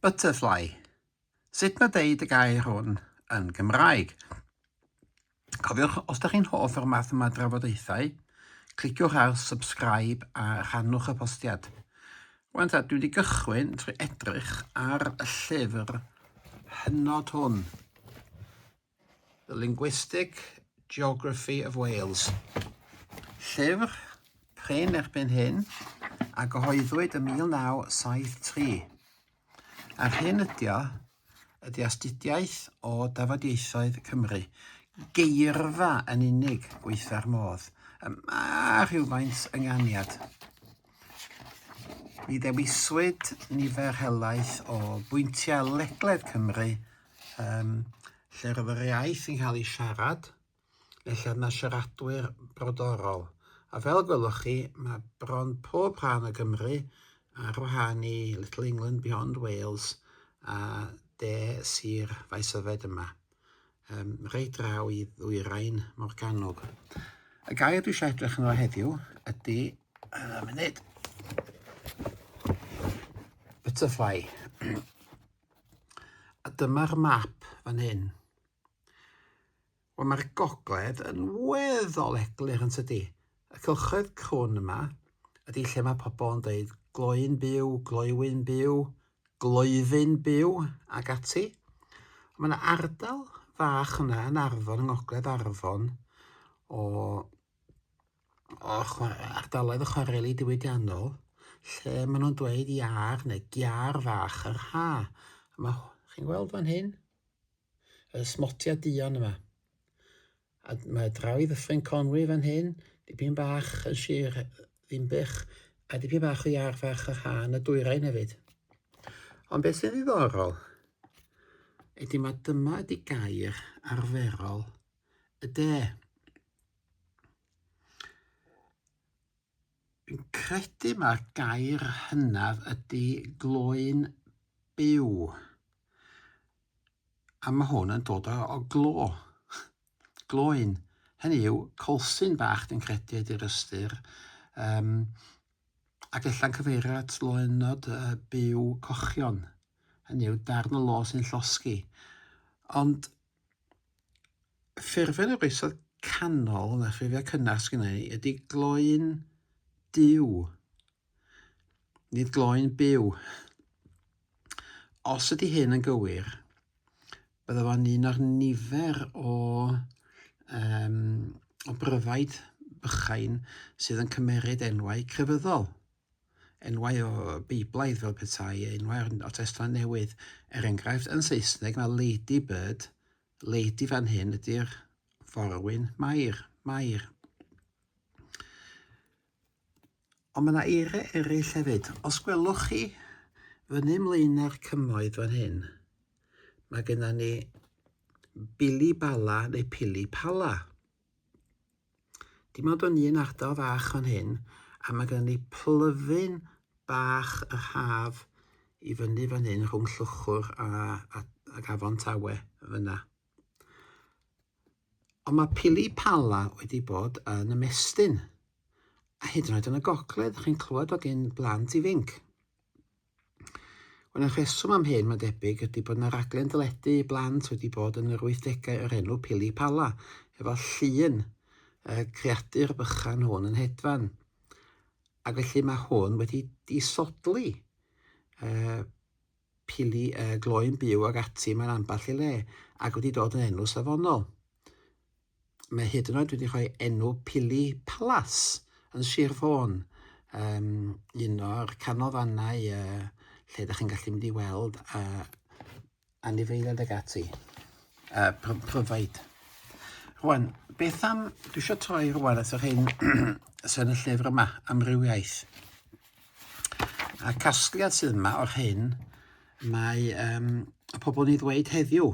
Butterfly. Sut mae deud y gair hwn yn Gymraeg? Cofiwch, os da chi'n hoff o'r math yma drafodaethau, cliciwch ar subscribe a rhannwch y postiad. Wan ta, dwi wedi gychwyn trwy edrych ar y llyfr hynod hwn. The Linguistic Geography of Wales, llyfr prin erbyn hyn a gyhoeddwyd ym 1973. A'r hyn ydy o ydy astudiaeth o dafodieithoedd Cymru, geirfa yn unig gweithfa'r modd, y mae rhywfaint ynganiad. Mi ddewiswyd nifer helaeth o bwyntiau ledled Cymru um, lle roedd yr iaith yn cael ei siarad, lle yna siaradwyr brodorol. A fel gwelwch chi, mae bron pob rhan o Gymru ar wahân i Little England Beyond Wales a de sir faes yfed yma, um, reit draw i ddwyrain Morgannwg. Y gair dwi eisiau edrych yno heddiw ydy, uh, munud, butterfly. A dyma'r map fan hyn. Wel, mae'r gogledd yn weddol eglur yn tydi. Y cylchoedd crwn yma ydy lle mae pobl yn dweud gloi'n byw, gloiwyn byw, gloifyn byw ac ati. Mae yna ardal fach yna yn Arfon, yng Ngogledd Arfon, o o ardaloedd y chwareli diwydiannol lle maen nhw'n dweud iar neu giar fach yr ha. Mae, chi'n gweld fan hyn? Y smotia dion yma. A mae draw i ddyffryn Conwy fan hyn, dipyn bach yn sir Ddinbych, a dipyn bach o iar fach yr ha yn y dwyrain hefyd. Ond beth sy'n ddiddorol ydy mae dyma ydy gair arferol y de. Fi'n credu mae'r gair hynaf ydy gloyn byw. A mae hwn yn dod o, o glo. Gloyn. Hynny yw, colsyn bach dwi'n credu ydy'r ystyr. Um, ac ella'n cyfeirio at loenod uh, byw cochion. Hynny yw, darn o lo sy'n llosgi. Ond ffurfiau yr oesoedd canol, na ffurfiau cynnar sgynna i, ydy gloi'n diw. Nid gloi'n byw. Os ydy hyn yn gywir, bydde fo'n un o'r nifer o, um, o bryfaid bychain sydd yn cymeryd enwau crefyddol. enwau o Beiblaidd fel petai e enwau o Testament Newydd. Er enghraifft, yn Saesneg mae Lady Bird, Lady fan hyn ydy'r forwyn Mair, Mair. Ond mae yna eiriau eraill hefyd. Os gwelwch chi fyny ymlaen ar cymoedd fan hyn, mae gennym ni Billy Bala neu Pili Pala. Dim ond yn un ardal fach fan hyn, a mae gen i plyfyn bach yr haf i fyny fan hyn rhwng Llwchwr a, a, a Gafon Tawe fyna. Ond mae pili pala wedi bod yn ymestyn, a hyd yn oed yn y gogledd, chi'n clywed o gyn blant ifinc. Wel, y rheswm am hyn, mae'n debyg, ydy bod yna raglen deledu i blant wedi bod yn yr wythdegau o'r enw Pili Pala, efo llun y creadur bychan hwn yn hedfan. Ac felly mae hwn wedi disodli uh, pili uh, gloi'n byw ag ati mae'n ambell i le, ac wedi dod yn enw safonol. mae hyd yn oed wedi rhoi enw Pili Palace yn Sir Fôn, um, un o'r canolfannau uh, lle ydych chi'n gallu mynd i weld uh, anifeiliaid ag ati, uh, pryfaid. Rwan, beth am, dwi eisiau troi rwan at yr hyn sy'n y llyfr yma, amrywiaeth. A casgliad sydd yma o'r hyn mae um, y pobl ni ddweud heddiw,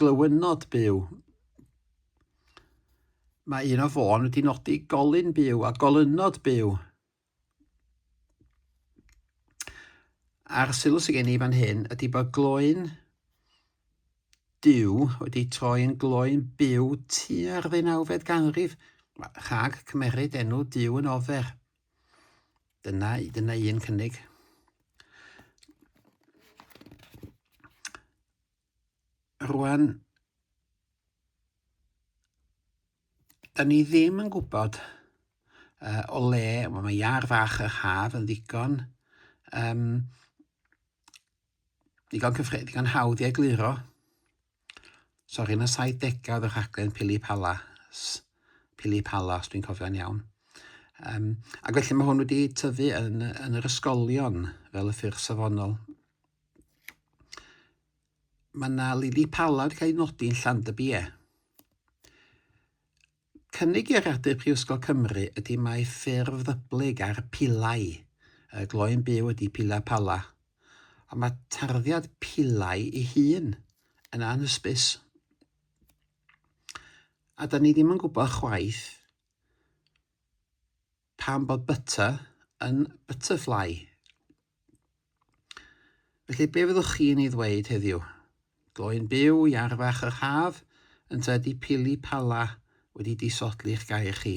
Glywynod byw. Mae un o fôn wedi nodi golyn byw a golynod byw. A'r sylw sy'n gen i fan hyn ydy bod gloyn diw wedi troi yn gloyn byw tua'r ddeunawfed ganrif rhag cymeryd enw diw yn ofer. Dyna, dyna un cynnig. Rwan, da ni ddim yn gwybod uh, o le, wel, mae iar fach yr haf yn ddigon, um, ddigon, cyffred, ddigon hawdd i egluro. Sori, yn y 70au oedd y rhaglen Pili Palas, Pili Palas, dwi'n cofio'n iawn. Um, ac felly mae hwn wedi tyfu yn, yn yr ysgolion fel y ffyrdd safonol. Mae yna lili palad yn cael ei nodi yn Llandybie. Cynnig iaradur Prifysgol Cymru ydy mae ffurf ddyblyg ar pilau y gloi'n byw ydy pila pala, ond mae tarddiad pilau ei hun yn anhysbys. A da ni ddim yn gwybod chwaith Pam bod butter yn butterfly? Felly, be fyddwch chi'n ei ddweud heddiw? Gloyn byw, iarfach yr haf, ynta ydi pili pala wedi disodli'ch gair chi?